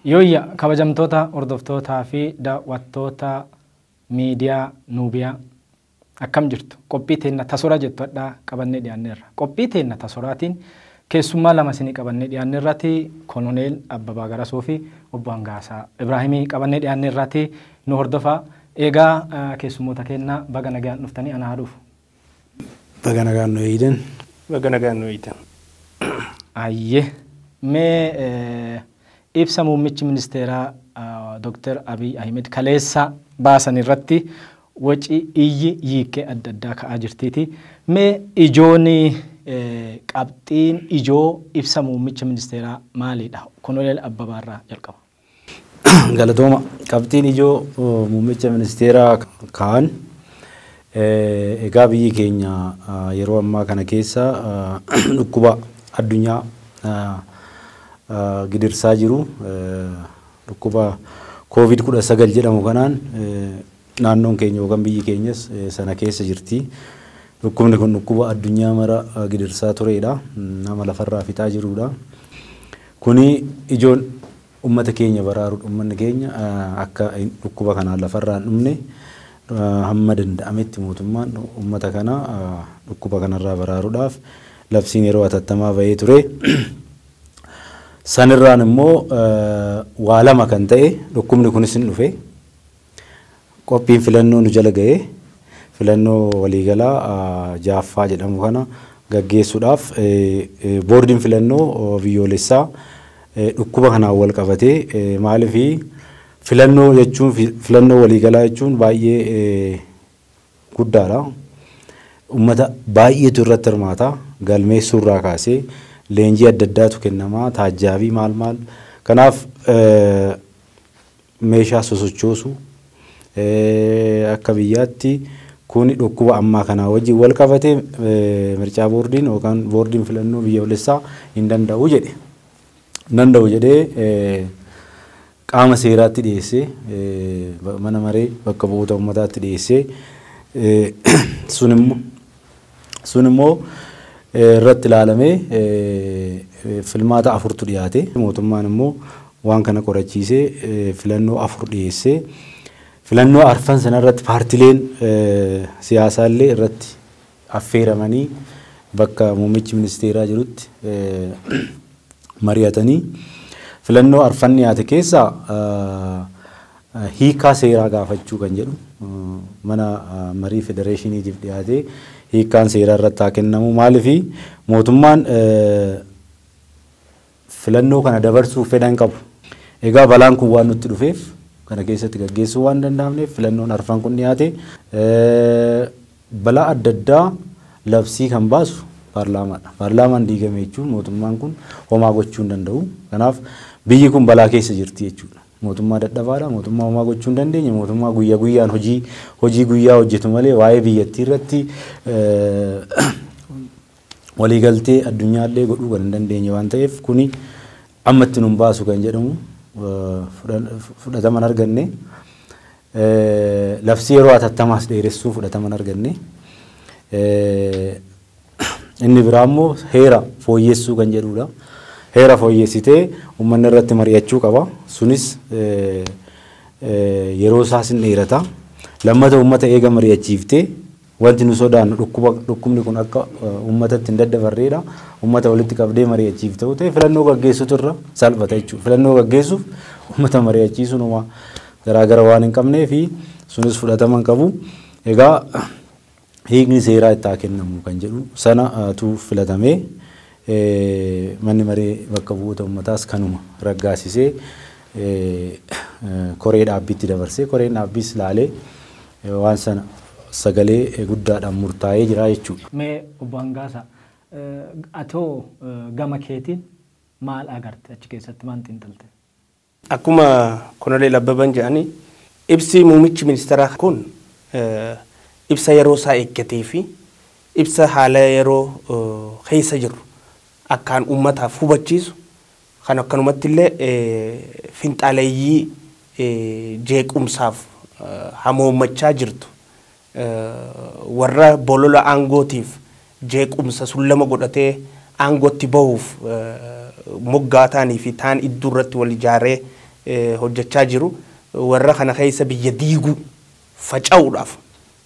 Yooyya kabajamtoota hordoftootaa fi daawwattoota miidiyaa Nuubiyaa Akkam jirtu? Qophii teenna ta soraa jettu hadhaa qabannee dhiyaanneerra. Qophii teenna ta soraatiin keessummaa lama isinii qabannee dhiyaanneerrati Kononeel Abbabaa Garasoo fi Obbo Hangaasaa Ibraahimii qabannee dhiyaanneerrati nu hordofaa. Eegaa keessummoota keenna baga nagayaan dhuftanii anaa haa dhufu. Baga nagaan nu eeydan. Baga nagaan nu eeydan. Hayyee. Mee Ibsa muummichi ministeeraa Dr. Abiy Ahimed kaleessa baasan irratti waci iyyi yiikkee adda addaa ka'aa jirtiiti. Mee ijoon qabxiin ijoo ibsa muummicha ministeeraa maaliidha? Konoleel Abbabaa irraa jalqaba. Galatooma. Qabxiin ijoo muummicha ministeeraa ka'an Egaa biyyi keenya yeroo ammaa kana keessa dhukkuba addunyaa gidirsaa jiru dhukkuba covid 19 jedhamu kanaan naannoon keenya yookaan biyyi keenyas sana keessa jirti. Dhukkubni kun dhukkuba addunyaa mara gidirsaa tureedha. Nama lafarraa fixaa jiruudha. Kuni ijoon Ummata keenya baraaruudha. Ummanni keenya akka dhukkuba kanaan lafarraa hin dhumne hamma danda'ametti mootummaan ummata kana dhukkuba kanarraa baraaruudhaaf labsiin yeroo hatattamaa bahee ture. Sanirraan immoo waa lama kan ta'e dhukkubni kunis hin dhufe. Qophiin filannoo nu jala ga'ee filannoo waliigalaa 6ffaa jedhamu kana gaggeessuudhaaf Boordiin Filannoo Biyyoolessaa dhukkuba kanaan wal qabatee maaliif filannoo jechuun filannoo waliigalaa jechuun baay'ee guddaadha. Uummata baay'eetu irratti hirmaata. Galmeessuu irraa kaasee leenjii adda addaatu kennama. Taajjaabii maal maal. Kanaaf meeshaa sosochoosu akka biyyaatti kuni dhukkuba ammaa kanaa wajjin walqabate mircaa boordiin yookaan boordiin filannoo biyyoolessaa hin danda'u jedhe. Hin danda'u jedhee qaama seeraatti dhiyeessee mana maree bakka bu'oota ummataatti dhiyeessee sun immoo Sun immoo irratti ilaalamee filmaata afurtu dhiyaate. Mootummaan immoo waan kana qorachiisee filannoo afur dhiyeessee filannoo arfan sana irratti paartileen siyaasaa illee irratti affeeramanii bakka muummichi ministeeraa jirutti mari'atanii filannoo arfan dhiyaate keessaa Hiikkaa seeraa gaafachuu kan jedhu mana marii federeeshiniitiif dhiyaatee hiikkaan seeraa irratti haa kennamu. Maaliif mootummaan filannoo kana dabarsuuf fedha hin qabu. Egaa balaan kun waan nutti dhufeef kana keessatti gaggeessuu waan danda'amneef filannoon arfan kun dhiyaate balaa adda addaa labsii kan baasu paarlaamaadha. Paarlaamaan diigame jechuun mootummaan kun homaa gochuu hin danda'u. Kanaaf biyyi kun balaa keessa jirti jechuudha. Mootummaa dadhabaadha, mootummaa homaa gochuu hin dandeenye, mootummaa guyya guyyaan hojii hojii guyyaa hojjetu malee waa'ee biyyattii irratti waliigaltee addunyaa illee godhuu kan hin dandeenye waan ta'eef kuni amma itti nun baasu kan jedhamu fudhatama hin arganne. Labsii yeroo hatattamaas dheeressuu fudhatama hin arganne. Inni biraa immoo heera fooyyessuu kan jedhuudha. Heera fooyyessitee uummanni irratti mari'achuu qaba. Sunis yeroo isaas hin dheerata. Lammata uummata eega mari'achiiftee wanti nu sodaannu dhukkuba dhukkubni kun akka uummatatti hin daddabarreedha. Uummata walitti qabdee mari'achiifta yoo ta'e filannoo gaggeessutu irra salphata jechuudha. Filannoo gaggeessuuf uummata mari'achiisuun homaa garaagara waan hin qabneefi sunis fudhatama hin qabu. Egaa hiikni seeraa itti haa kennamu kan jedhu sana tu filatamee manni maree bakka bu'oota ummataas kanuma raggaasisee koree dhaabbiitti dabarsee koreen dhaabbiis laalee waan sana sagalee guddaadhaan murtaa'ee jira jechuudha. Mee Obbo Hangaasaa, atoo gama keetiin maal agarte achi keessatti maal xiinxalte? Akkuma Konoleel Abbaban jedhani ibsi muumichi ministeeraa kun ibsa yeroo isaa eeggatee fi ibsa haala yeroo keessa jirru akkaan uummataaf hubachiisu kan akkanumatti illee finxaaleyyii jeequmsaaf hamoommachaa jirtu Warra bolola aangootiif jeequmsa sullama godhatee aangootti bahuuf moggaataanii fi taan idduu irratti wal ijaaree hojjachaa jiru warra kana keessa biyya diiguu, faca'uudhaaf,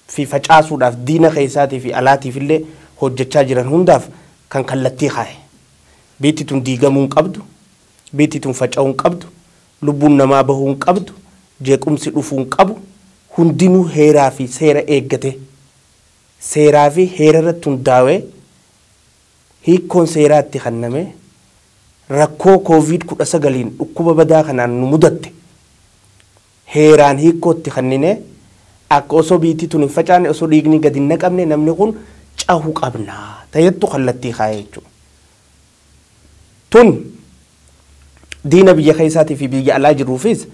fi facaasuudhaaf diina keessaatii fi alaatiif illee hojjachaa jiran hundaaf kan kallattii kaaye. Biitti tun diigamuu hin qabdu, biitti tun faca'uu hin qabdu, Lubbuun namaa bahuu hin qabdu, jeequmsi dhufuu hin qabu, hundinuu heeraa fi seera eeggatee, seeraa fi heera irratti hundaawee hiikkoon seeraa itti kannamee, rakkoo Covid 19n dhukkuba badaa kanaan nu mudatte heeraan hiikkoo itti kanninee akka osoo biyyittii tun hin facaane, osoo dhiigni gad hin naqamne namni kun cahu qabna ta jettu kallattii kaayee jechuudha. Tun diina biyya keessaatii fi biyya alaa jiruufis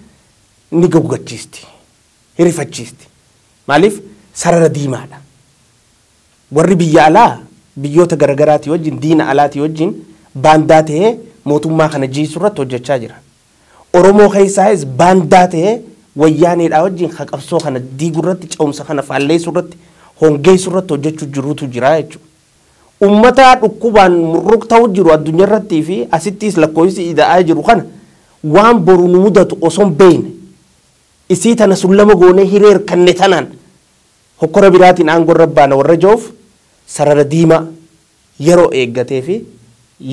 ni goggachiisti, hin rifachiisti. Maaliif sarara diimaadha. Warri biyya alaa biyyoota garagaraatii wajjin, diina alaatii wajjin baandaa ta'ee mootummaa kana jiisuu irratti hojjechaa jira. Oromoo keessaayis baandaa ta'ee Wayyaaneedhaa wajjin ka qabsoo kana diiguu irratti, ce'umsa kana faalleessuu irratti, hongeessuu irratti hojjechuu jirutu jira jechuudha. Ummata dhukkubaan murruqtau jiru addunyarrattii fi asittiis lakkooysi ida'aa jiru kana waan boru nu mudatu oson beeyne isii tana sullama goonee hiree irkanne tanaan hokkora biraatiin aangorra baana warra jauuf sarara diimaa yeroo eeggatee fi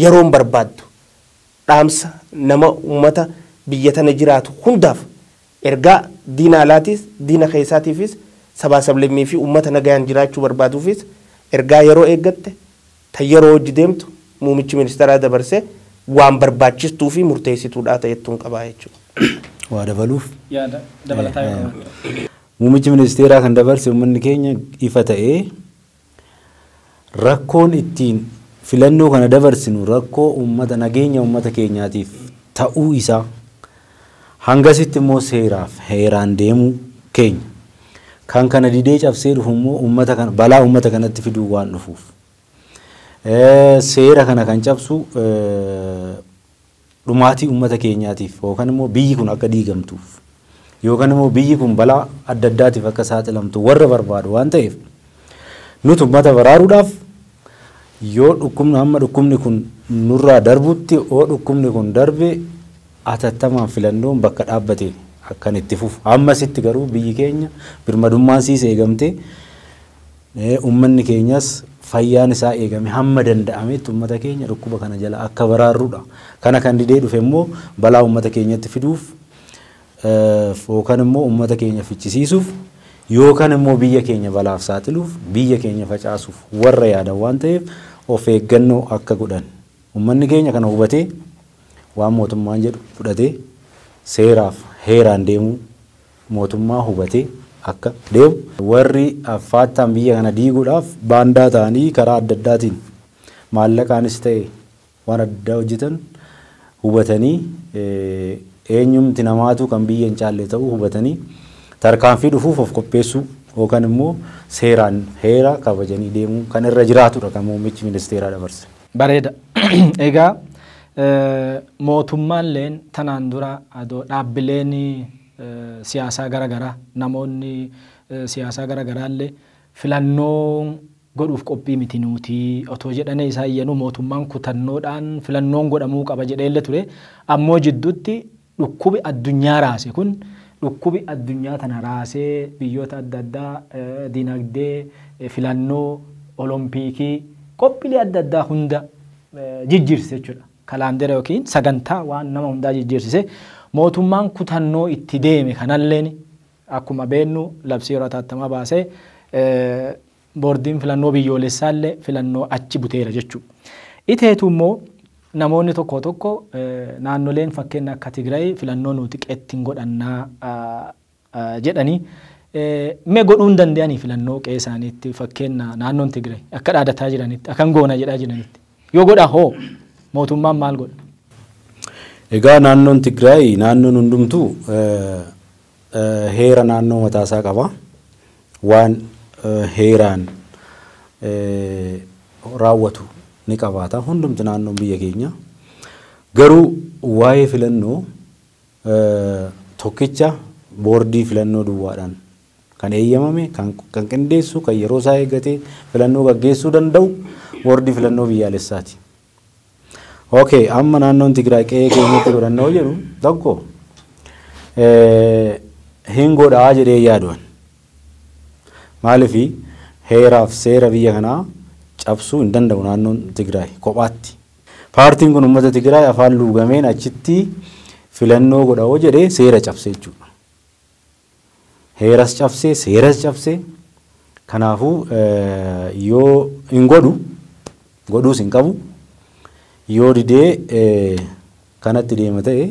yeroon barbaaddu dhaamsa nama ummata biyya tana jiraatu hundaaf Ergaa diina alaatiis, diina keessaatiifis, sabaa sablammii fi uummata nagayaan jiraachuu barbaaduufis ergaa yeroo eeggatte, tan yeroo wajji deemtu muumichi ministaraa dabarse waan barbaachistuu fi murteessituudhaa ta'ettuun qaba jechuudha. Waa dabaluuf? Yaada dabalataa yoo qabaattan. Muumichi ministeeraa kan dabarse uummanni keenya ifa ta'ee Rakkoon ittiin filannoo kana dabarsinu rakkoo uummata nageenya uummata keenyaatiif ta'uu isaa hangasitti immoo seeraaf heeraan deemuu keenya. Kan kana didee cabsee dhufu immoo uummata kana balaa uummata kanatti fiduun waan dhufuuf seera kana kan cabsu dhumaatii uummata keenyaatiif yookan immoo biyyi kun akka diigamtuuf yookan immoo biyyi kun balaa adda addaatiif akka saaxilamtu warra barbaadu waan ta'eef nuti uummata baraaruudhaaf yoo dhukkubni hamma dhukkubni kun nurraa darbutti yoo dhukkubni kun darbe atattamaan filannoon bakka dhaabbate akkan itti fufu hammasitti garuu biyyi keenya birmadummaan siis eegamtee Uummanni keenyas fayyaan isaa eegame hamma danda'ametti uummata keenya dhukkuba kana jalaa akka baraarrudha. Kana kan didee dhufe immoo balaa uummata keenyatti fiduuf yookan immoo uummata keenya fichisiisuuf yookan immoo biyya keenya balaaf saaxiluuf biyya keenya facaasuuf warra yaadan waan ta'eef of eeggannoo akka godhan uummanni keenya kana hubatee waan mootummaan jedhu fudhatee seeraaf heeraan deemuu mootummaa hubatee akka deemu, warri affaattaan biyya kana diiguudhaaf baandaa ta'anii karaa adda addaatiin maallaqaanis ta'e waan adda addaa hojjetan hubatanii eenyumti namaatuu kan biyya hin caalle ta'uu hubatanii tarkaanfii dhufuuf of qopheessuu yookan immoo seeraan heera kabajanii deemuu kan irra jiraatudha kan muummichi ministeeraa dabarse. Bareeda. Egaa mootummaalleen tanaan dura adoo dhaabbileen siyaasaa gara garaa, namoonni siyaasaa gara garaallee filannoo godhuuf qophii miti nuuti otoo jedhanee isaa iyyanuu mootummaan kutannoodhaan filannoon godhamuu qaba jedheellee ture. Ammoo jidduutti Dhukkubi addunyaa raase kun dhukkubi addunyaa tana raasee biyyoota adda addaa dinagdee, filannoo, olompiikii, qophilee adda addaa hunda jijjiirsise jechuudha. Kalaandera yookiin sagantaa waan nama hundaa jijjiirsise. Mootummaan kutannoo itti deeme kanalleen akkuma beennu labsii yeroo ataattamaa baasee Boordiin Filannoo Biyyoolessaallee filannoo achi buteera jechuu. Iteetu immoo namoonni tokkoo tokko naannoleen fakkeenna akka Tigrayi filannoo nuuti qeetti hin godhannaa jedhanii mee godhuu hin dande'anii filannoo qe'ee isaaniitti fakkeenna naannoon Tigrayi akka dhaadataa jiranitti akan goona jedhaa jiranitti yoo godha hoo mootummaan maal godha? Egaa naannoon Tigrayi naannoon hundumtuu heera naannoo mataa isaa qaba. Waan heeraan raawwatu ni qabaata hundumti naannoon biyya keenya. Garuu waa'ee filannoo tokkicha boordii filannoo duwwaadhaan kan eeyyamame kan qindeessu kan yeroo isaa eeggatee filannoo gaggeessuu danda'u boordii filannoo biyyaalessaati. Ok, amma naannoon Tigraay qe'ee keenyatti godhanna yoo jedhu tokko hin godhaa jedhee yaaduwan. Maaliif heeraaf seera biyya kanaa cabsuu hin danda'u naannoon Tigraay kophaatti. Paartiin kun uummata Tigraay afaan luugameen achitti filannoo godha yoo jedhe seera cabse jechuudha. Heeras cabse, seeras cabse. Kanaafuu yoo hin godhu, godhuus hin qabu. Yoo didee kanatti deema ta'e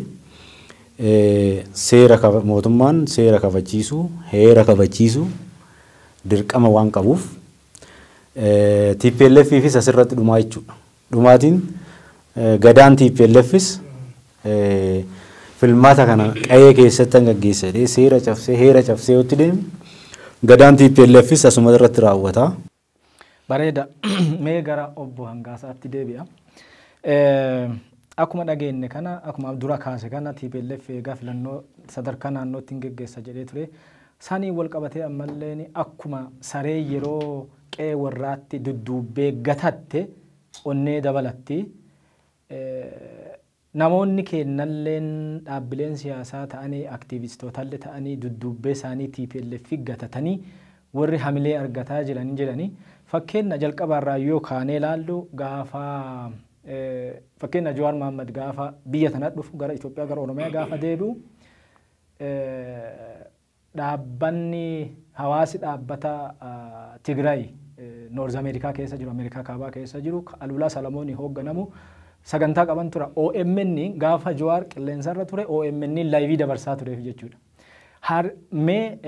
seera mootummaan seera kabachiisuu, heera kabachiisuu dirqama waan qabuuf TPLFifis asirratti dhumaa jechuudha. Dhumaatiin Gadaan TPLFs filmaata kana qa'ee keessattan gaggeessa jedhee seera cabsee heera cabsee yoo itti deeme Gadaan TPLFs asuma irratti raawwata. Bareeda. Mee gara obbo Hangaasaatti deebi'a. Akkuma dhageenye kana akkuma dura kaase kana TPLF eegaa filannoo sadarkaa naannootti hin geggeessa jedhee ture. Saniin wal qabatee ammallee akkuma saree yeroo qe'ee warraatti dudduubbee gatatte onnee dabalatti. Namoonni keennalleen dhaabbileen siyaasaa ta'anii, aktiivistootallee ta'anii dudduubbee isaanii tplf gatatanii warri hamilee argataa jiran hin jirani. Fakkeenna jalqabaa irraa yoo kaanee ilaallu gaafa fakkeenna Jawaar Mahaammad gaafa biyya tana dhufu gara Itoophiyaa gara Oromiyaa gaafa deebi'u Dhaabbanni hawaasi dhaabbata Tigraay North America keessa jiru, Amerikaa Kaabaa keessa jiru, ka Aluulaa Salamooniin hoogganamu sagantaa qaban tura. OMN gaafa Jawaar qilleensarra ture OMN live dabarsaa tureef jechuudha. Har, mee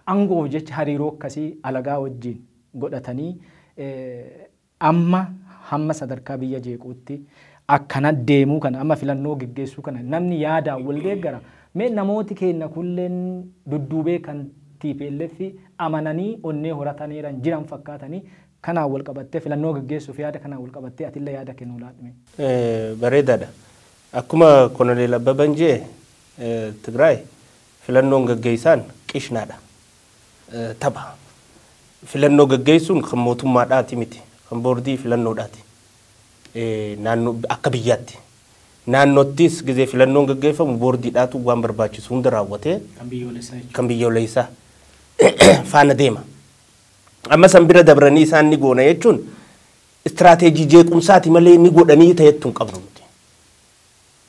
aangoof jecha hariiroo akkasii alagaa wajjin godhatanii Amma hamma sadarkaa biyya jeequutti akkana deemuu kana amma filannoo geggeessuu kana namni yaadaan wal deeggara? Mee namooti keenna kulleen dudduubee kan tplf amananii onnee horataneeran jiran fakkaatanii kanaan wal qabattee filannoo geggeessuuf yaada kanaan wal qabattee atille yaada kee nuu laadhu mee. Bareedaadha. Akkuma Kononeel Abbaban je'e Tigraay filannoon gaggeessaan qishnaadha. tapha. Filannoo gaggeessuun kan mootummaadhaati miti. Kan boordii filannoodhaati. Naannoo akka biyyaatti. Naannoottis gizee filannoon gaggeeffamu boordiidhaatu waan barbaachisu hunda raawwatee Kan biyyoolessaa jechuudha. kan biyyoolessaa faana deema. Amma san bira dabranii isaan ni goona jechuun istiraateejii jeequmsaati malee ni godhanii ta'ettu hin qabnu nuti.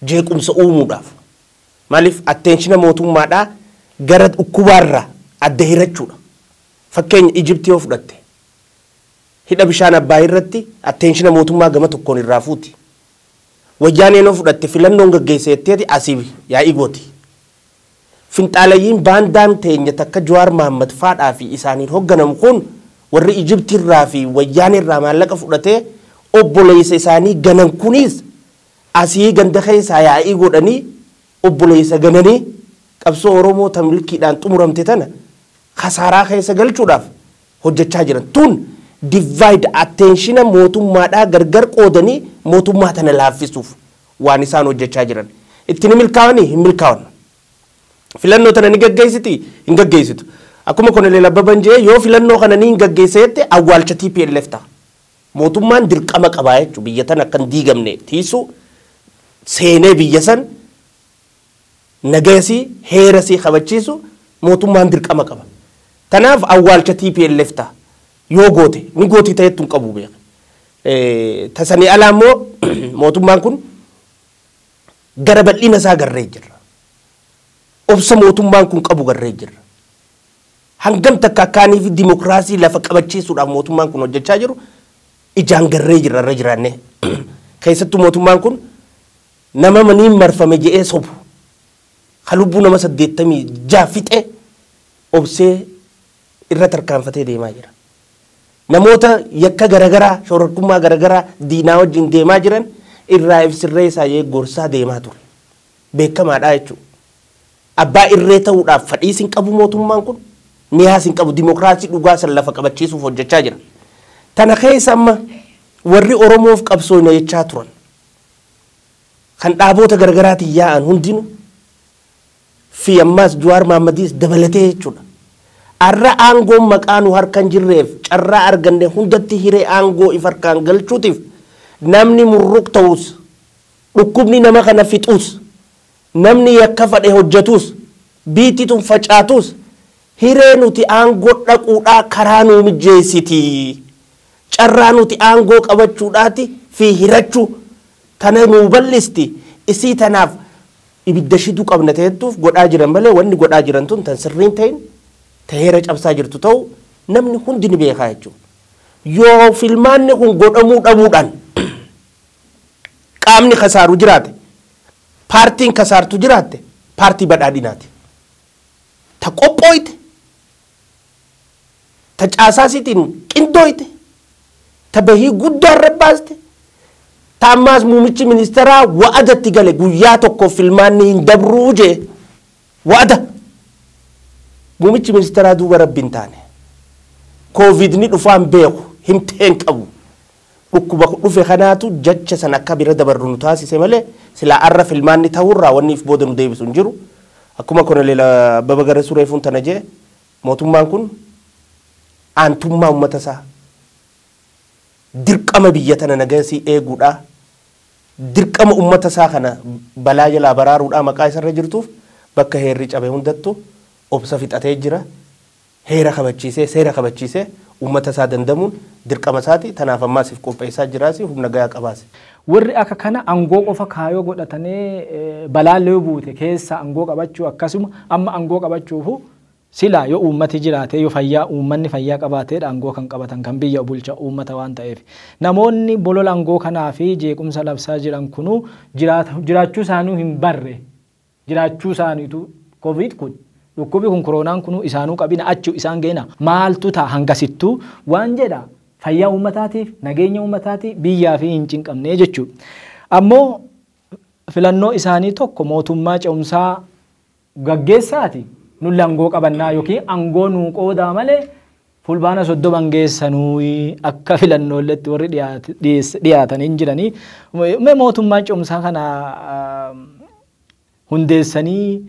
Jeequmsa uumuudhaaf. Maaliif attention mootummaadhaa gara dhukkubaarraa adda hirachuudha. Fakkeenya Egypt yoo fudhatte hidha bishaan Abbaay irratti attention mootummaa gama tokkoon irraa fuuti. Wayyaaneen yoo fudhatte filannoon gaggeessa jetteeti asii yaa'ii gooti. Finxaalayyiin baandaan teenya takka Jawaar Mahaammad faadhaa fi isaaniin hogganamu kun warri Egypt irraa fi Wayyaanee irraa maallaqa fudhatee obboleessa isaanii ganan kuniis Asii ganda keessaa yaa'ii godhanii obboleessa gananii qabsoo Oromoo ta milkiidhaan xumuramte tana kasaaraa keessa galchuudhaaf hojjachaa jiran. Tun divide attention mootummaadhaa gargar qoodanii mootummaa tana laaffisuuf waan isaan hojjachaa jiran. Itti ni milkaawanii? Hin milkaawan. Filannoo tana ni gaggeessitii? Hin gaggeessitu. Akkuma Koneleel Abbaban je'e yoo filannoo kana niin gaggeessa jette awwaalcha tplf ta'a. Mootummaan dirqama qaba jechuun biyya tana akka hin diigamne tiiysu seenee biyya san nagaya isii heera isii kabachiisu mootummaan dirqama qaba. Tanaaf awwaalcha tplf ta, yoo goote ni gooti ta jettu hin qabu beeki. Ta sanii alaa immoo mootummaan kun gara bal'ina isaa garree jirra. Obsa mootummaan kun qabu garree jirra. Hangam takka akka anii fi dimokraasii lafa qabachiisuudhaaf mootummaan kun hojjachaa jiru ijaan garree jirra irra jiraannee. Keessattuu mootummaan kun nama maniin marfame jedhee sobu, ka lubbuu nama 86 fixe obsee irra tarkaanfatee deemaa jira. Namoota yakka garagaraa, shororkummaa garagaraa diinaa wajjin deemaa jiran irraa if sirreessaa jedhee gorsaa deemaa ture. beekamaadha jechuudha. Abbaa irree ta'uudhaaf fadhiis hin qabu mootummaan kun, miyaas hin qabu. Dimokiraasii dhugaa san lafa qabachiisuuf hojjechaa jira. Tana keessa amma warri Oromoof qabsooyna jechaa turan, kan dhaaboota garaagaraatiin yaa'an hundinuu fi ammaas Juwaar Mahaammadiis dabalatee jechuudha. Arra aangoon maqaa nu harka hin jirreef carraa arganne hundatti hiree aangoo if harkaan galchuutiif namni murruq ta'us, Dhukkubni nama kana fixuus, namni yakka fadhe hojjatuus, biitti tun facaatuus hiree nuti aangoo dhaquudhaa karaa nuu mijjeessiti. Carraa nuti aangoo qabachuudhaati fi hirachuu tana nuu bal'isti. Isii tanaaf ibidda shiduu qabna ta jettuuf godhaa jiran malee wanni godhaa jiran tun tan sirrii hin tahin, ta heera cabsaa jirtu tahuu namni hundi ni beekaa jechuudha. Yoo filmaanni kun godhamuu dhabuudhaan. qaamni kasaaru jiraate, paartiin kasaartu jiraatte paartii badhaadhinaati. Ta qophooyte, ta caasaa isiitiin qindooyte, ta bahii guddaa irra baaste, ta ammaas muumichi ministeeraa wa'ada itti gale guyyaa tokkoof filmaanni hin dabruu jee wa'ada. Muumichi ministeeraa duuba rabbi hin taane. Kooviidni dhufaa hin beeku, himtee hin qabu. Dhukkuba dhufe kanaatu jacha sana akka bira dabarru nu taasise malee silaa arra filmaanni ta'uurraa wanni if booda nu deebisu hin jiru. Akkuma Konoleel Abbaba Garasuu reefuun tana je'e mootummaan kun aantummaa ummata isaa, dirqama biyya tana nagaya isii eeguudhaa, dirqama ummata isaa kana balaa jalaa baraaruudhaa maqaa isarra jirtuuf bakka heerri cabe hundattu obsa fixatee jira. Heera kabachiisee, seera kabachiisee uummata isaa dandamuun dirqama isaati. Tanaaf ammaas if qopheessaa jiraasi, humna gayaa qabaasi. Warri akka kana angoo qofa kaayoo godhatanee balaalle yoo buute keessa angoo qabachuu akkasuma amma angoo qabachuufu silaa yoo uummati jiraatee yoo fayyaa uummanni fayyaa qabaateedha angoo kan qabatan kan biyya bulcha uummata waan ta'eef. Namoonni bolola angoo kanaa fi jeequmsa labsaa jiran kunuu jiraachuu isaaniu hin barre jiraachuu isaaniitu covid kun dhukkubi kun koroonaan kunuu isaanuu qabina achu isaan geena maaltu ta'a hangasittuu waan jedha fayyaa uummataatiif nageenya uummataatiif biyyaafi hin cinqamnee jechuu ammoo filannoo isaanii tokko mootummaa ce'umsaa gaggeessaati nulli angoo qabannaa yookiin angoo nuu qoodaa malee Fulbaana 30 hangeessa nuyi akka filannoolletti warri dhiyaatan hin jiranii. Mee mootummaan cumsaa kana hundeessanii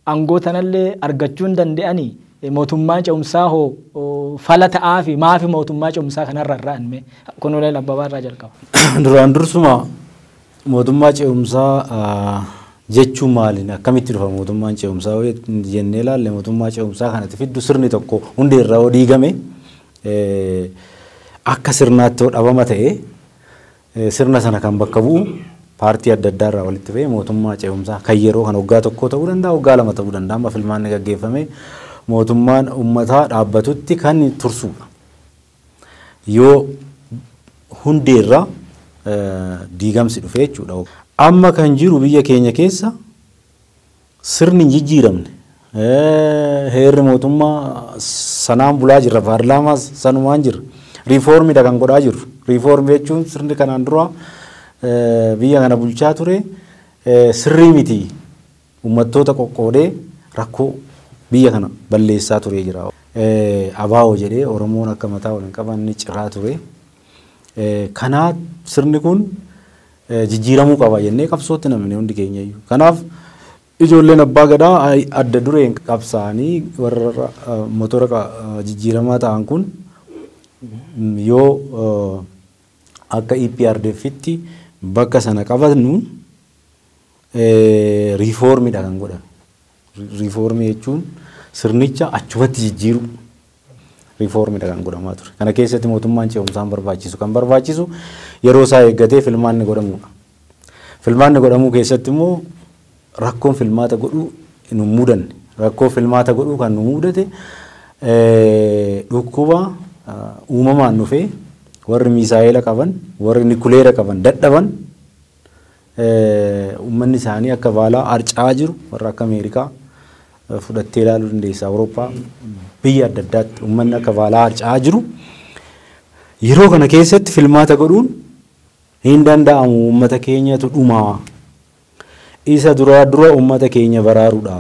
aangoo tanallee argachuu hin danda'anii? Mootummaa cumsaa hoo fala ta'aafi maafi mootummaa cumsaa kanarra irraan mee? Kunuuleen Abbabaa irraa jalqaba. Duraan dursuma Mootummaa ce'umsaa jechuun maali? Akkamitti dhufa mootummaan ce'umsaa yoo jennee ilaalle mootummaa ce'umsaa kanatti fiddu sirni tokko hundee irraa yoo diigame akka sirnaatti yoo dhabama ta'e sirna sana kan bakka bu'u paartii adda addaa irraa walitti ba'ee mootummaa ce'umsaa kan yeroo kan waggaa tokkoo ta'uu danda'a waggaa lama ta'uu danda'a amma filmaanni gaggeeffame mootummaan uummataa dhaabbatutti kan tursuudha. Yoo hundee irraa diigamsi dhufe jechuudha. Amma kan jiru biyya keenya keessa sirni hin jijjiiramne. Heerri mootummaa sanaan bulaa jirra. Paarlaamaas sanumaan jirra. Riifoormidha kan godhaa jirru. Riifoormi jechuun sirni kanaan dura biyya kana bulchaa ture sirrii miti. Ummattoota qoqqoodee rakkoo biyya kana balleessaa turee jira. Abo jedhee Oromoon akka mataa wal hin qabanne ciraa ture. Kanaa sirni kun jijjiiramuu qaba jennee qabsootti namne hundi keenyayyuu. Kanaaf ijoolleen abbaa gadaa adda dureen qabsaa'anii warra motora jijjiiramaa ta'an kun yoo akka EPRDFitti bakka sana qabannu reform dha kan godhan. Reform jechuun sirnicha achumatti jijjiiruu reform dha kan godhamaa ture. Kana keessatti mootummaan ce'umsaan barbaachisu kan barbaachisu yeroo isaa eeggatee filmaanni godhamuudha. Filmaanni godhamuu keessatti immoo rakkoon filmaata godhuu nu mudanne. Rakkoo filmaata godhuu kan nu mudate dhukkuba uumamaan dhufee warri miisaa'eela qaban, warri nikuleera qaban dadhaban Uummanni isaanii akka vaalaa harca'aa jiru warra akka Ameerikaa fudhattee ilaaluu dandeessa. Awurooppaa biyya adda addaatti uummanni akka vaalaa harca'aa jiru yeroo kana keessatti filmaata godhuun hin danda'amu uummata keenyatu dhumaa. Isa duraa dura uummata keenya baraaruudha.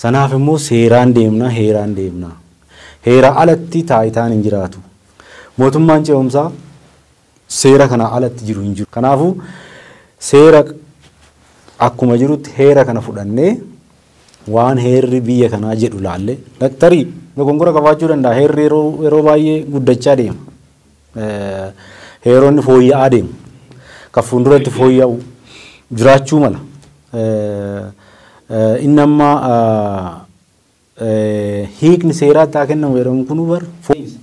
Sanaaf immoo seeraan deemna, heeraan deemna. Heera alatti taayitaan hin jiraatu. Mootummaan ce'umsaa seera kanaa alatti jiru hin jiru. Kanaafuu, seera akkuma jirutti heera kana fudhannee waan heerri biyya kanaa jedhu laallee tarii dogongora qabaachuu danda'a. Heerri yeroo yeroo baay'ee guddachaa deema. Eh, Heeronni fooyya'aa deemu. Kan fuulduratti fooyya'u jiraachuu mala. Eh, eh, Inni amma ah, Hiikni seeraa itti haa kennamu jedhamu kun bar fooyya'insa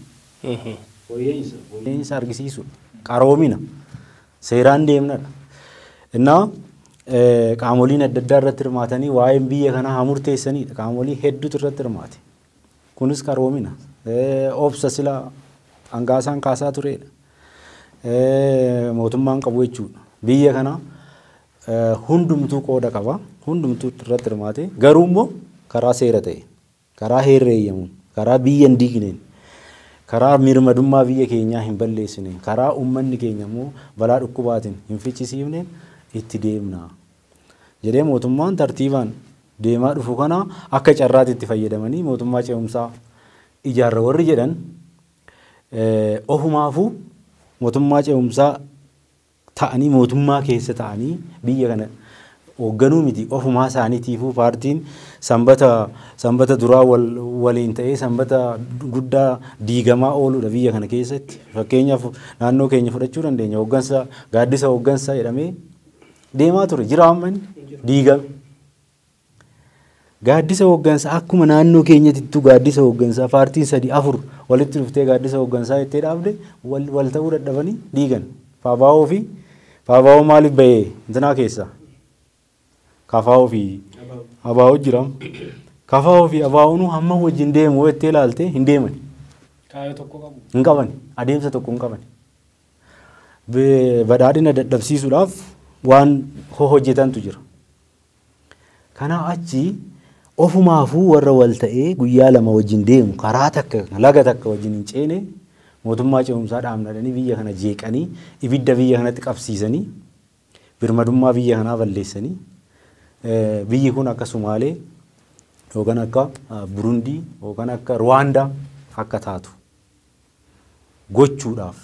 fooyya'insa argisiisudha. Qaroomina seeraan deemnadha. Innaa qaamoliin adda addaa irratti hirmaatanii waa'een biyya kanaa haa murteessanidha. Qaamolii hedduutu irratti hirmaate. Kunis qaroomina. Obsa sila hangaasaan kaasaa turedha. Mootummaan qabu jechuudha. Biyya kana hundumtuu qooda qaba. Hundumtuu irratti hirmaate. Garuu immoo karaa seera ta'een, karaa heerri eeyyamuun, karaa biyya hin diigneen, karaa mirmadummaa biyya keenyaa hin balleessineen, karaa uummanni keenya immoo balaa dhukkubaatiin hin fichisiifneen itti deemna jedhee mootummaan tartiibaan deemaa dhufu kana akka carraatti itti fayyadamanii mootummaa ce'umsaa ijaarra warri jedhan ofumaafuu mootummaa ce'umsaa ta'anii mootummaa keessa ta'anii biyya kana hoogganuu miti ofumaa isaaniitiifuu paartiin sanbata sanbata duraa wal waliin ta'ee sanbata guddaa diigamaa ooludha biyya kana keessatti fakkeenyaaf naannoo keenya fudhachuu dandeenya hooggansa gaaddisa hooggansa jedhamee deemaa ture jira amma inni diigame. Gaaddisa Hooggansa Akkuma naannoo keenyatittuu gaaddisa hooggansaa paartiin sadi afur walitti dhuftee gaaddisa hooggansaa jettee dhaabde wal wal ta'uu dadhabanii diigan. Faabaawoo fi Faabaawoo maaliif bahee intinaa keessaa? Kafaawoo fi Abaawoo jiraam. Kafaawoo fi Abaawoonuu hamma wajjin deemu jettee ilaalte hin deemani. Kaayoo tokko qabu. Hin qabani. Adeemsa tokko hin qabani. Be- Badhaadhina dadhabsiisuudhaaf waan ho- hojjetantu jira. Kanaa achi ofumaafuu warra wal ta'ee guyyaa lama wajjin deemu karaa takka yookiin laga takka wajjin hin ceene mootummaa ce'umsaa dhaabna jedhanii biyya kana jeeqanii ibidda biyya kanatti qabsiisanii birmadummaa biyya kanaa balleessanii biyyi kun akka Sumaalee yookaan akka Burundii yookaan akka Ruwaandaa akka taatu gochuudhaaf,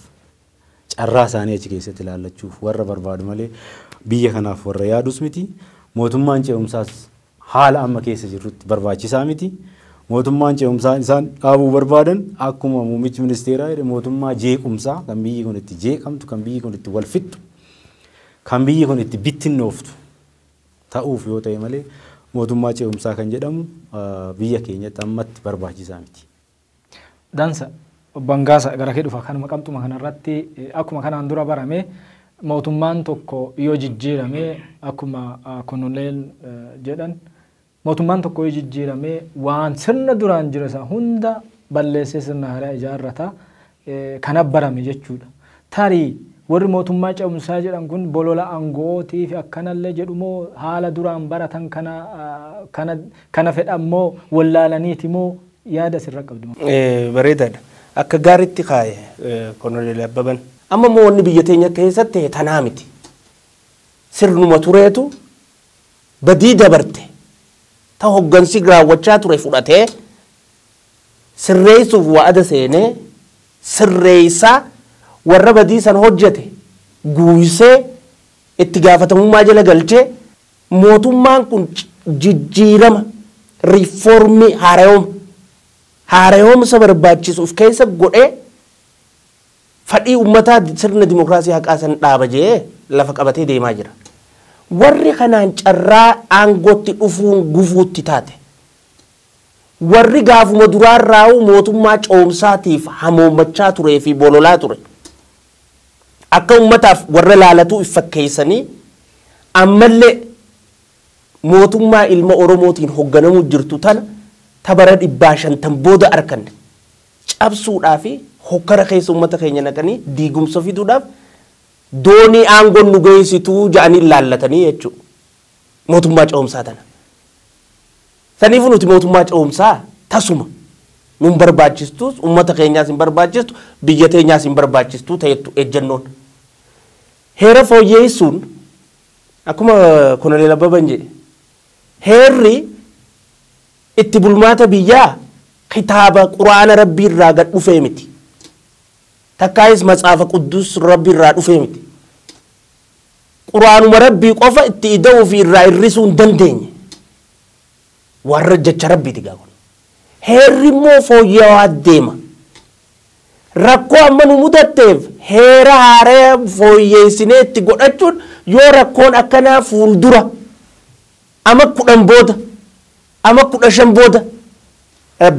carraa isaanii achi keessatti ilaallachuuf warra barbaadu malee biyya kanaaf warra yaadus miti. Mootummaan ce'umsaas haala amma keessa jirrutti barbaachisaa miti. Mootummaan ce'umsaa isaan dhaabuu barbaadan akkuma muummichi ministeeraa jedhe mootummaa jeequmsaa kan biyyi kun itti jeeqamtu, kan biyyi kun itti wal fixxu, kan biyyi kun itti bittinnooftu ta'uuf yoo ta'e malee mootummaa ce'umsaa kan jedhamu biyya keenyatti ammatti barbaachisaa miti. Dansa. Obbo Angaasa gara kee dhufa. Kanuma qabxuma kana irratti akkuma kanaan dura barame mootummaan tokko yoo jijjiirame akkuma Konoleen jedhan mootummaan tokko yoo jijjiirame waan sirna duraan jira isaa hunda balleessee sirna haaraa ijaarrata. kan abbarame jechuudha. Tarii warri mootummaa ce'umsaa jedhan kun bolola ango'ootiif akkanallee jedhu moo haala duraan baratan kana kana kana fedhan moo wallaalaniiti moo yaada asirra qabdu? Bareedaadha. Akka gaaritti kaaye Konoleel Abbaban. Amma immoo wanni biyya teenya keessa ta'e tanaa miti. Sirnuma tureetu badii dabarte ta hoggansi raawwachaa ture fudhatee sirreessuuf wa'ada seenee sirreessaa warra badii san hojjate guuysee itti gaafatamummaa jala galchee mootummaan kun jijjiirama, reform, haarayoma, haarayomsa barbaachisu uf keessa godhee fadhii ummataa sirna dimokraasii haqaa san dhaaba je'ee lafa qabatee deemaa jira. Warri kanaan carraa aangootti dhufuun gufuutti taate. Warri gaafuma duraarraa'uu mootummaa coomsaatiif hamoommachaa turee fi bololaa ture, akka ummataaf warra laalatuu if fakkeessanii ammallee mootummaa ilma Oromootiin hogganamuu jirtu tana ta bara dhibbaa shantan booda arkanne cabsuudhaa fi hokkara keessa ummata keenya naqanii diigumsa fiduudhaaf doonii aangoon nu geessitu ja'anii laallatanii jechuudha. mootummaa ce'umsaa tana. Saniifuu nuti mootummaa ce'umsaa tasuma nun barbaachistuus ummata keenyaas hin barbaachistu biyya teenyaas hin barbaachistuu ta'ettu ejjannoon. Heera fooyyeessuun akkuma Koloneel Abbaban jedhe heerri itti bulmaata biyyaa kitaaba quraana rabbii irraa gad dhufee miti. Takkaayis matsaafa quddus rabbi irraa dhufee miti. Qur'aanuma Rabbii qofa itti ida'uu fi irraa hir'isuu hin dandeenye. Warra jecha Rabbiiti gaa kun. Heerri immoo fooyya'aa deema. Rakkoo amma nu mudatteef heera haaraya fooyyeessinee itti godhachuun yoo rakkoon akkanaa fuuldura ama kudhan booda ama kudha shan booda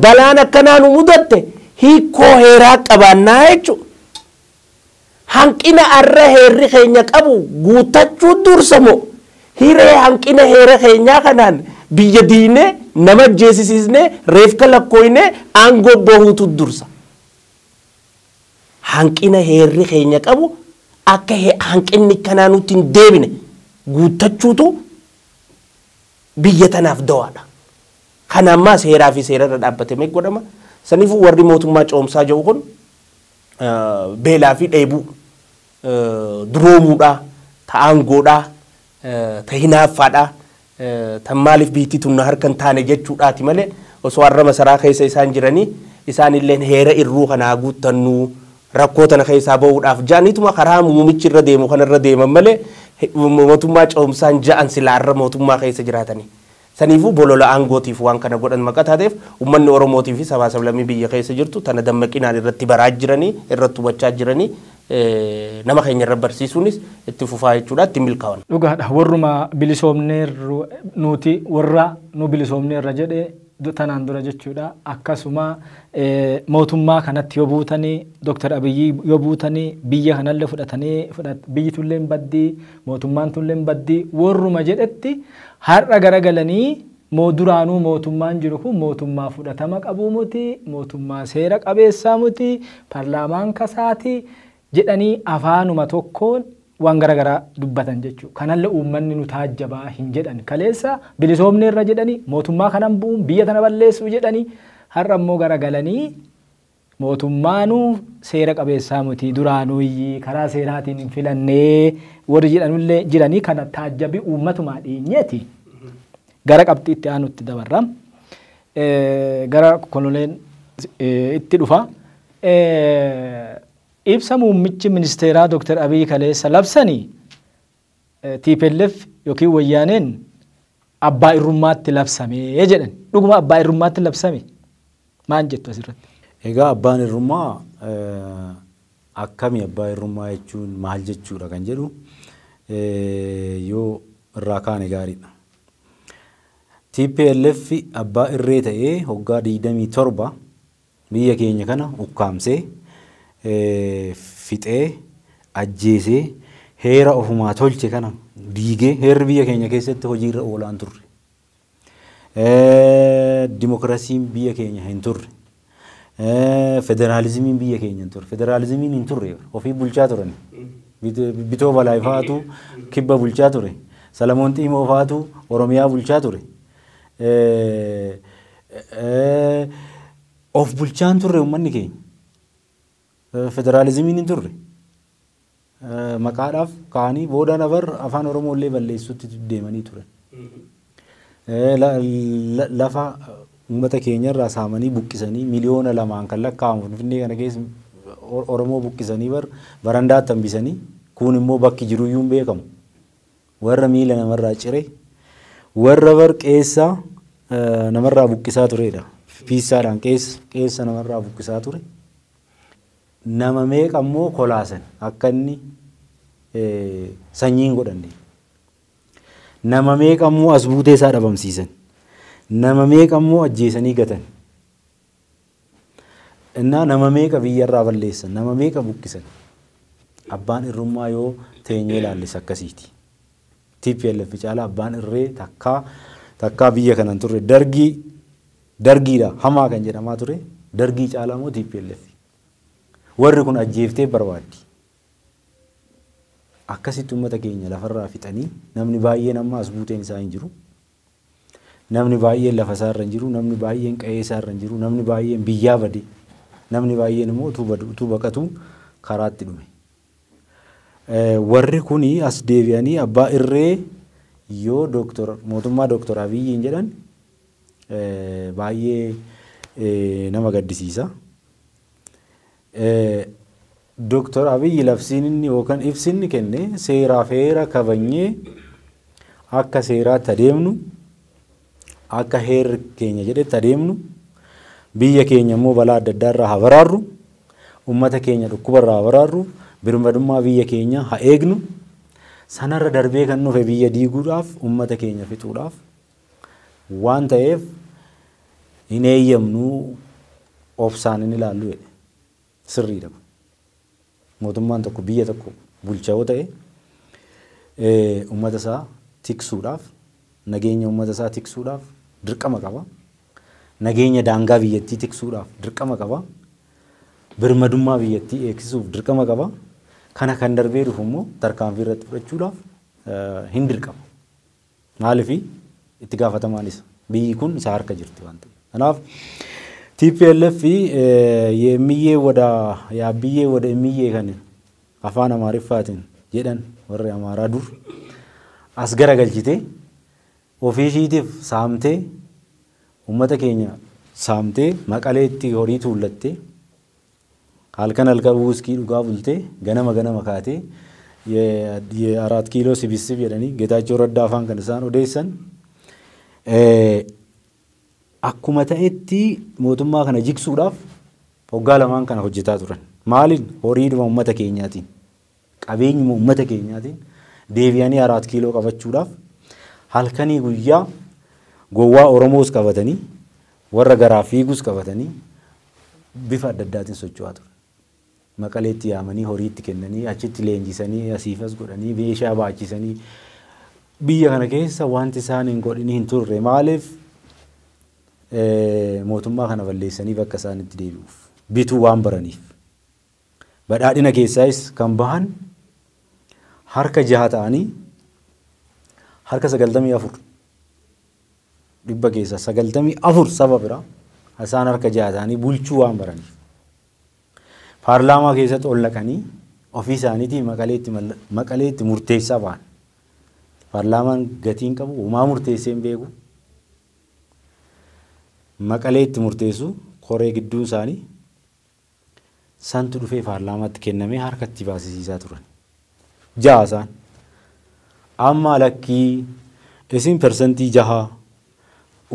balaan akkanaa nu mudatte hiikkoo heeraa qabaannaa jechuudha. Hanqina har'a heerri keenya qabu guuttachuu dursa moo hiree hanqina heera keenyaa kanaan biyya diignee, nama ajjeesisiisnee, reefka lakkooynee aangoo bahuutu dursa? Hanqina heerri keenya qabu akka hanqinni akkanaa nutti hin deebine guuttachuutu biyya tanaaf dawaadha. Kana ammaa seeraa fi seerarra dhaabbatamee godhama. Saniifuu warri mootummaa ce'umsaa jedhu kun beelaa fi dheebuu, duroomuudhaa, ta aangoodhaa, ta hinaaffaadhaa, tan maaliif biyyittii tun na harka hin taane jechuudhaati malee osoo arra masaraa keessa isaan jiranii isaanilleen heera irruu kana haa guuttannu rakkoo tana keessaa ba'uudhaaf ja'aniituma karaa muumichi irra deemu kana irra deeman malee mootummaa ce'umsaan ja'an silaa arra mootummaa keessa jiraatanii. Saniifuu bolola aangootiif waan kana godhan maqa taateef ummanni Oromootii fi sabaa sablammii biyya keessa jirtu tana dammaqinaan irratti baraa jiranii, irratti hubachaa jiranii nama keenya irra barsiisuunis itti fufaa jechuudha. Itti hin milkaawan. Dhugaadha warruma bilisoomneerru nuuti warra nu bilisoomneerra jedhe tanaan dura jechuudha. Akkasuma mootummaa kanatti yoo buutanii Dr. Abiyyii yoo buutanii biyya kanallee fudhatanii biyyi tunillee hin baddi. Mootummaan tulleen baddii worruma jedhetti har'a garagalanii moo duraanuu mootummaan jiru kun mootummaa fudhatama qabuu muti, mootummaa seera qabeessaa muti, parlaamaan kasaati jedhanii afaanuma tokkoon waan gara garaa dubbatan jechuudha. Kanalle uummanni nu taajjabaa hin jedhan. Kaleessa bilisoomneerra jedhanii, mootummaa kanan bu'uun biyya tana balleessuu jedhanii har'a immoo garagalanii Mootummaanuu seera qabeessaa mutii duraanuyyi karaa seeraatiin hin filannee warri jedhanullee jiranii kana taajjabii uummatumaa dheenyeeti gara qabxii itti aanutti dabarra. Gara Kololeen itti dhufa. Ibsa muummichi ministeeraa Dr. Abiy kaleessa labsani tplf ykn Wayyaaneen abbaa irrummaatti labsame jedhan. Dhuguma abbaa irrummaatti labsame? Maan jettu asirratti? Egaa abbaan irrummaa akkami abbaa irrummaa jechuun maal jechuudha kan jedhu yoo irraa kaane gaariidha. tplf abbaa irree ta'ee hoggaa 27 Biyya keenya kana ukkaamsee, fixee, ajjeesee, heera ofumaa tolche kana diigee, heerri biyya keenya keessatti hojiirra oolaa hin turre. Dimokiraasiin biyya keenya hin turre. Federaalizimiin biyya keenya hin turre. Federaalizimiin hin turre ofii bulchaa turan. Bitoo Balaay fa'aatu kibba bulchaa ture. Salamoon Xiimoo fa'aatu Oromiyaa bulchaa ture. Of bulchaa hin turre uummanni keenya. Federaalizimiin hin turre. Maqaadhaaf ka'anii booda nafar afaan Oromoo illee balleessuutti deemanii turan. Lafa uummata keenya irraa saamanii buqqisanii miliyoona lamaan kan lakkaa'amu Finfinnee kana keessa Oromoo buqqisanii bar barandaatti hambisanii kuun immoo bakki jiruyyuu hin beekamu. Warra miila namarraa cire, warra bar qeessa namarraa buqqisaa turedha. Piissaadhaan qeessa qeessa namarraa buqqisaa ture. Nama meeqa immoo kolaasan akka inni sanyii hin godhanne. Nama meeqa immoo as buutee isaa dhabamsiisan. Nama meeqa immoo ajjeesanii gatan. Innaa nama meeqa biyya irraa balleessan, nama meeqa buqqisan. Abbaan irrummaa yoo teenyee ilaalles akkasiiti. Tplf caalaa abbaan irree takkaa takkaa biyya kana hin turre. Dargii dargiidha hamaa kan jedhamaa ture dargii caalaa immoo tplf. Warri kun ajjeeftee barbaaddi. Akkasitti uummata keenya lafarraa fixanii namni baay'een amma as buuteen isaa hin jiru. Namni baay'een lafa isaa irra hin jiru, namni baay'een qa'ee isaa irra hin jiru, namni baay'een biyyaa bade, namni baay'een immoo utuu badu, utuu baqatuu karaatti dhume. Warri kun as deebi'anii abbaa irree yoo Dooktor mootummaa Dooktor Abiyyiin jedhan baay'ee nama gaddisiisa. Doktar Abiy labsiin inni yookan ibsi inni kenne seeraaf heera kabajnee akka seeraatti adeemnu, akka heerri keenya jedhetti adeemnu, biyya keenya immoo balaa adda addaa irraa haa baraarru, ummata keenya dhukkuba irraa haa baraarru, birmadummaa biyya keenyaa haa eegnu, sanarra darbee kan dhufe biyya diiguudhaaf, ummata keenya fixuudhaaf waan ta'eef hin eeyyamnu obsaan hin ilaallu jedhe. Sirriidha kun. Mootummaan tokko biyya tokko bulcha yoo ta'e uummata isaa tiksuudhaaf nageenya uummata isaa tiksuudhaaf dirqama qaba. Nageenya daangaa biyyattii tiksuudhaaf dirqama qaba. Birmadummaa biyyattii eegsisuuf dirqama qaba. Kana kan darbee dhufu immoo tarkaanfii irratti fudhachuudhaaf hin dirqama. Maaliif? Itti gaafatamaan isa. Biyyi kun isa harka jirti waan ta'eef. Kanaaf tplf yeemmiyyee wada yaabbiyyee wada immiyyee kan afaan Amaariffaatiin jedhan warri Amaaraa dur as garagalchitee ofii ishiitiif saamtee uummata keenya saamtee Maqaleetti horii tuullattee Halkan halkan wuskii dhugaa bultee ganama ganama kaatee ye araat kiiloo sibissib jedhanii Getaachoo Raddaa faan kan isaan odeessan akkuma ta'etti mootummaa kana jigsuudhaaf hoggaa lamaan kana hojjetaa turan. Maaliin? Horiidhuma ummata keenyaatiin. Qabeenyuma uummata keenyaatiin deebi'anii Araat Kiiloo qabachuudhaaf halkanii guyyaa gowwaa Oromoos qabatanii warra garaa fiigus qabatanii bifa adda addaatiin socho'aa turan. Maqaleetti yaamanii horii itti kennanii achitti leenjisanii asiif as godhanii meeshaa baachisanii biyya kana keessa wanti isaan hin godhin hin turre maaliif mootummaa kana balleessanii bakka isaan itti deebi'uuf bituu waan baraniif. Badhaadhina keessaayis kan bahan harka 6 ta'anii harka 94 dhibba keessaa 94 saba biraa isaan harka 6 ta'anii bulchuu waan baraniif paarlaamaa keessatti ol naqanii ofii isaaniitii maqaleetti maqaleetti murteessaa bahan. Paarlaamaan gatiin qabu homaa murteessee hin beeku. Maqaleetti murteessu koree gidduun isaanii Santu dhufee paarlaamaatti kennamee harka itti baasisiisaa turan. Jaha isaan. Amma lakkii isin persantii jaha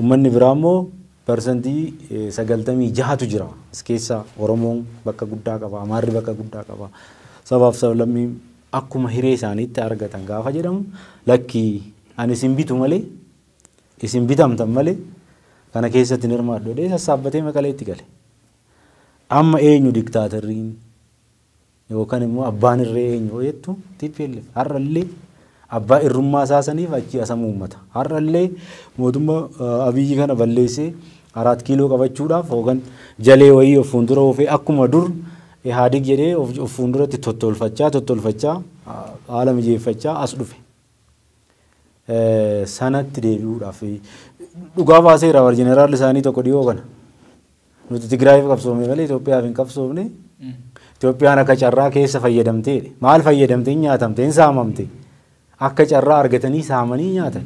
ummanni biraa immoo persantii sagaltamii jahatu jira. As keessa Oromoon bakka guddaa qaba, Amaarri bakka guddaa qaba. Sabaaf sablammii akkuma hiree isaaniitti argatan gaafa jedhamu lakkii ani isin bitu malee isin bitamtan malee kana keessatti hin hirmaadhu jedhee sassaabbatee Maqaleetti gale. Amma eenyu diktaaterriin yookan immoo abbaan irree eenyu hoo jettu tplf har'a illee abbaa irrummaa isaa saniif achii asamu uummata. Har'a illee mootumma Abiyyi kana balleessee Araat Kiiloo qabachuudhaaf yookan jalee wayii of fuundura oofee akkuma dur Ihaadig jedhee of fuunduratti tottolfachaa tottolfachaa haala mijeeffachaa as dhufe. sanatti deebi'uudhaaf dhugaa baaseera war jeneraalli isaanii tokko dhiyoo kana. Nuti Tigraayiif qabsoofne malee Itoophiyaaf hin qabsoofne. Itoophiyaan akka carraa keessa fayyadamteedha. Maal fayyadamte hin nyaatamte hin saamamte. Akka carraa argatanii saamanii nyaatan.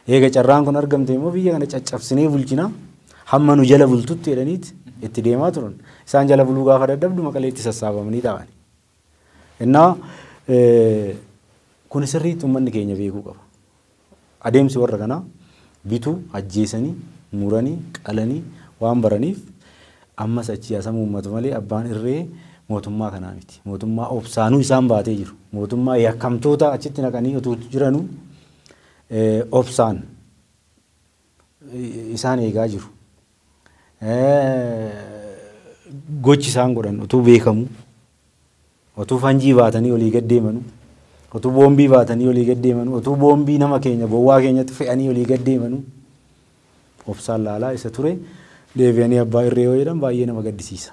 Eega carraan kun argamte immoo biyya kana caccabsinee bulchina. Hamma nu jala bultutti jedhaniit itti deemaa turan. Isaan jala buluu gaafa dadhabdu maqaleetti sassaabamanii taa'an. Innaa kuni sirriitti ummanni keenya beekuu qaba. Adeemsi warra kanaa bitu, ajjeesanii, muranii, qalanii waan baraniif ammas achii haa samuummatu malee abbaan irree mootummaa kanaa miti. Mootummaa obsaanuu isaan baatee jiru. Mootummaa yakkamtoota achitti naqanii utuu jiranuu obsaan isaan eegaa jiru. Gochi isaan godhan utuu beekamu, utuu fanjii baatanii olii gad deemanu, utuu boombii baatanii olii gad deemanu, utuu boombii nama keenya bowwaa keenyatti fe'anii olii gad deemanu obsaan laalaa isa ture deebi'anii abbaa irree yoo jedhan baay'ee nama gaddisiisa.